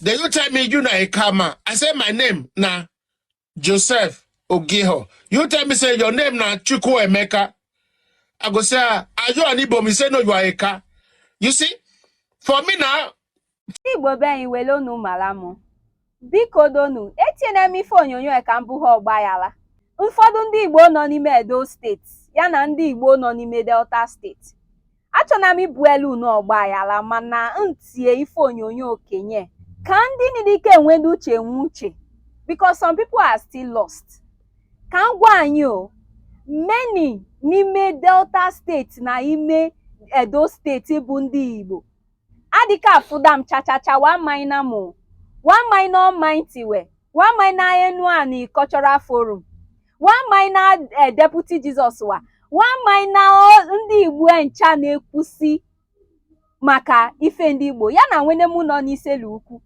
Then you tell me you na Ika man. I say my name na Joseph Ogiho. You tell me say your name na Chukwu Emeka. I go say, ah, are you an Igbo man? You say no, you are Ika. You see, for me now, ndị Igbo be anyị were unu mara mụ. Biko donu, etinyene m ife onyonyo a ka m buhe ọgbaghara. Ụfọdụ ndị Igbo nọ n'ime Edo steeti ya na ndị Igbo nọ n'ime Delta steeti. achọna m ibuelu unu ọgbaghara mana m tie ife onyonyo okenye ka ndị nị dị ka enwene uche nwee uche because some people are still lost ka m gwa anyị how many n'ime delta steeti na ime edo steeti bụ ndị igbo adịka afụda m chachacha wa maina mụ wa maina ọmainti we wa maina enuani cultural forum wa maina eh, deputy jesus wa wa maina ọ- ndị igbo ncha na-ekwusi maka ife ndị igbo ya na nwene mụ nọ n'isele ukwu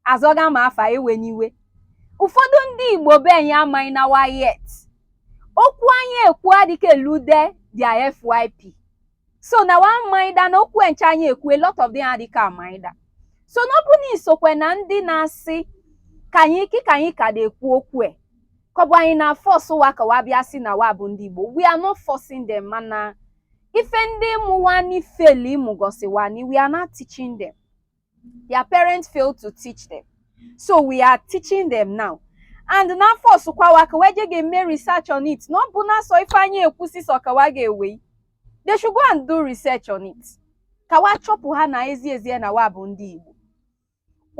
azọga m afa ewene iwe ụfọdụ ndị igbo be anyị amaina wa yet okwu anyị ekwu adịka elude their fyp so na wa maida na okwu ncha anyị ekwu a lot of them adịka amaida so na ọ bụ na i sokwe na ndị na-asị ka anyị ike ka anyị ka na-ekwu okwu e ka ọ bụ anyị na-force wa ka wa bịa si na wa bụ ndị Igbo we are not forcing them mana ife ndị mụ wa nị failị mụgọsị wa nị we are now teaching them their parents failed to teach them so we are teaching them now and na-aforce kwa wa ka wa je ga-eme research on it na ọ bụna sọ ife anyị ekwu sọsọ ka wa ga-ewe they should go and do research on it ka wa chọpụha na ezi ezie na wa bụ ndị Igbo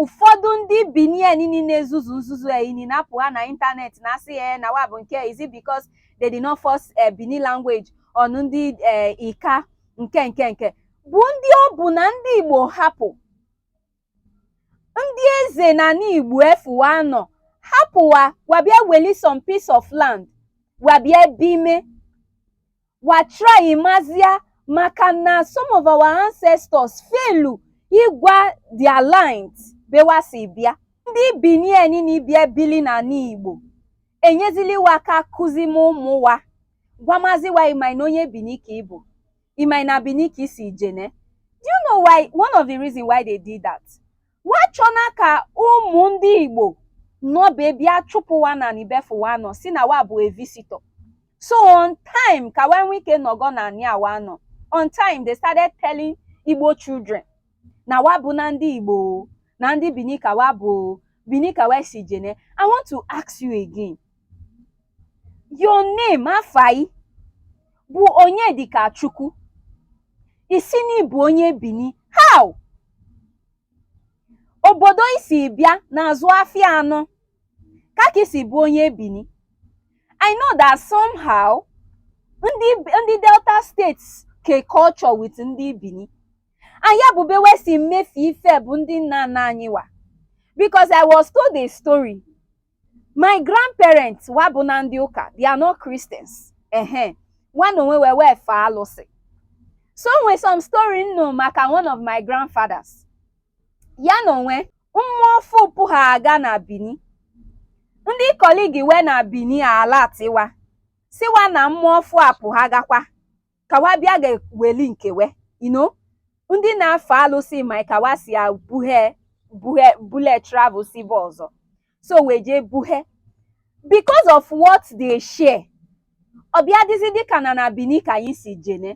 ụfọdụ ndị Bini nị na-ezuzu nzuzu ya ini na-apụha na ịntanetị na-asị ya na wa bụ nke is it because they did not force eh, Benin language on ndị eh, Ika nke nke nke bụ ndị ọ bụ na ndị Igbo hapụ ndị eze n'anị Igbo afụ wa nọ hapụ wa wa bịa weli some piece of land wa bịa ebime wa try mazia maka na some of our ancestors failụ ịgwa their lines be wa si bịa ndị bini niile bịa bili n'anị Igbo enyezili wa aka kuzime ụmụ wa gwamazi wa ị maina onye bini ka ị bụ Ị maina Benin ka i si jene? Do you know why one of the reason why they did that? Wa chọna ka ụmụ ndị Igbo nọ be bịa chụpụ wa n'anị be afụ wa nọ si na wa bụ a visitor. So on time ka wa nwee ike nọgọ na anị a wa nọ. On time they started telling Igbo children na wa bụna ndị Igbo o, na ndị Benin ka wa bụ o, Benin ka wa si jene. I want to ask you again. Your name Afa ị bụ Onyedikachukwu. Ị sị na ị bụ onye Bini. How? Obodo i si bịa na-azụ afịa anọ. Ka ka i si bụ onye Bini. I know that somehow ndị ndị Delta State ke culture with ndị Bini. And ya bụ ebe we si mefie ife bụ ndị nna nna anyị wa. Because I was told a story my grandparents wa abụna ndị ụka they are not Christians ehe nwa na onwe we wee fee alụsị so o nwe some story m nụ maka one of my grandfathers ya na o nwe mmụọ ọfụụ pụha a ga na Bini ndị colleague we na Bini alert wa sị wa na mmụọ ọfụụ apụha gakwa ka wa bịa ga weli nke we I know ndị na-efe alụsị ma ka wa si ebuhe buhe bule travel si ebe ọzọ so wee jee buhe because of what they share ọ bịa dịzi dịka na na Bini ka anyị si jene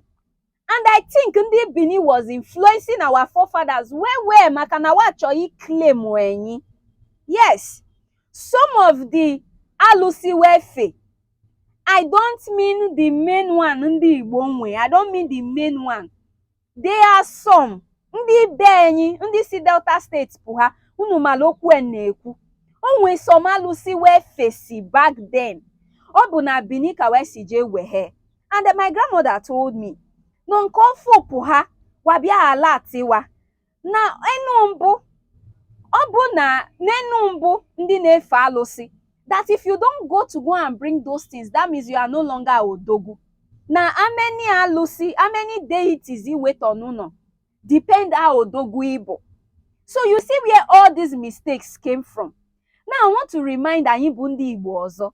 and I think ndị Bini was influencing our forefathers well well maka na wa chọ ị claim enyi yes some of the alụsị we fe I don't mean the main one ndị Igbo nwe I don't mean the main one there are some ndị be anyị ndị si Delta State pụha unu mala okwu m na-ekwu o nwe some alụsị we fesi back then ọ bụ na Bini ka wa si jee wehe and my grandmother told me na nke ọfụụ pụha wa bịa alert wa na enu mbụ ọ bụ na n'enu mbụ ndị na-efe alụsị that if you don't go to go and bring those things that means you are no longer odogwu na how many alụsị how many deities i weta n'ụnọ depend how odogwu ị bụ so you see where all these mistakes came from now i want to remind anyị bụ ndị igbo ọzọ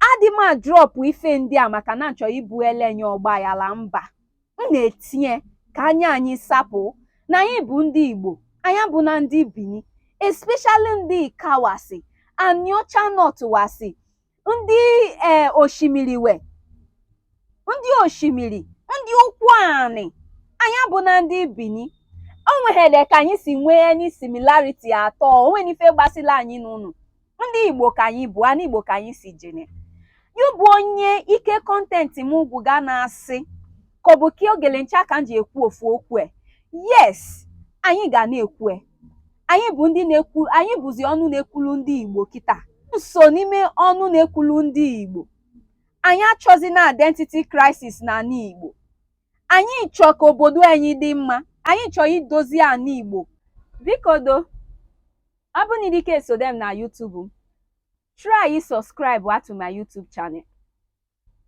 adị m a-drop ife ndị a maka na m chọ ibu elenye ọgbaghala mba m na-etinye ka anya anyị sapụ na anyị bụ ndị Igbo anyị abụna ndị Bini especially ndị Ika wasi Aniocha North wasi ndị ee Oshimili we ndị Oshimili ndị Ukwuani anyị abụna ndị Bini o nweghele ka anyị si nwee any similarity at all o nweni ife gbasila anyị na unu ndị igbo ka anyị bụ ana igbo ka anyị si jene ya bụ onye ike content m gwụ ga na-asị ka ọ bụ ka ogele ncha ka m ji ekwu ofu okwu e yes anyị ga na-ekwu e anyị bụ ndị na-ekwu anyị bụzi ọnụ na-ekwulu ndị igbo kịta so n'ime ọnụ na-ekwulu ndị igbo anyị achọzina identity crisis na ana igbo anyị chọ ka obodo anyị dị mma anyị chọ idozi ana igbo biko do Ọ bụrụ na ị dịka esode m na YouTube m, try subscribe to my YouTube channel.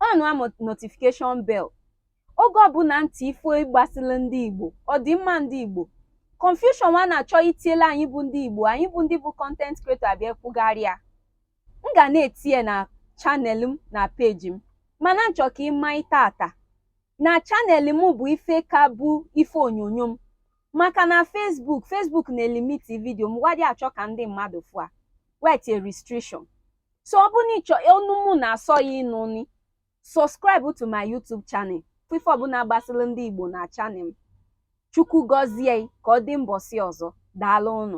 Onụa notification bell. Oge ọbụla m tii ife gbasịla ndị Igbo, ọdịmma ndị Igbo, confusion wa na-achọ itiela anyị bụ ndị Igbo, anyị bụ ndị bụ content creator abịa kwugharịa. M ga na-etinye na channel m na page m, mana m chọ ka ị maa taata na channel m bụ ife ka bụ ife onyonyo m. maka na Facebook Facebook na-elimiti video m wa adị achọ ka ndị mmadụ fụ a wee tie restriction so ọ bụrụ na ị chọ onu mụ na-asọ gị ịnụ ni subscribe to my YouTube channel ife ọbụla gbasịrị ndị Igbo na channel m Chukwu gọzie ị ka ọ dị mbọsị ọzọ daalụ ụnụ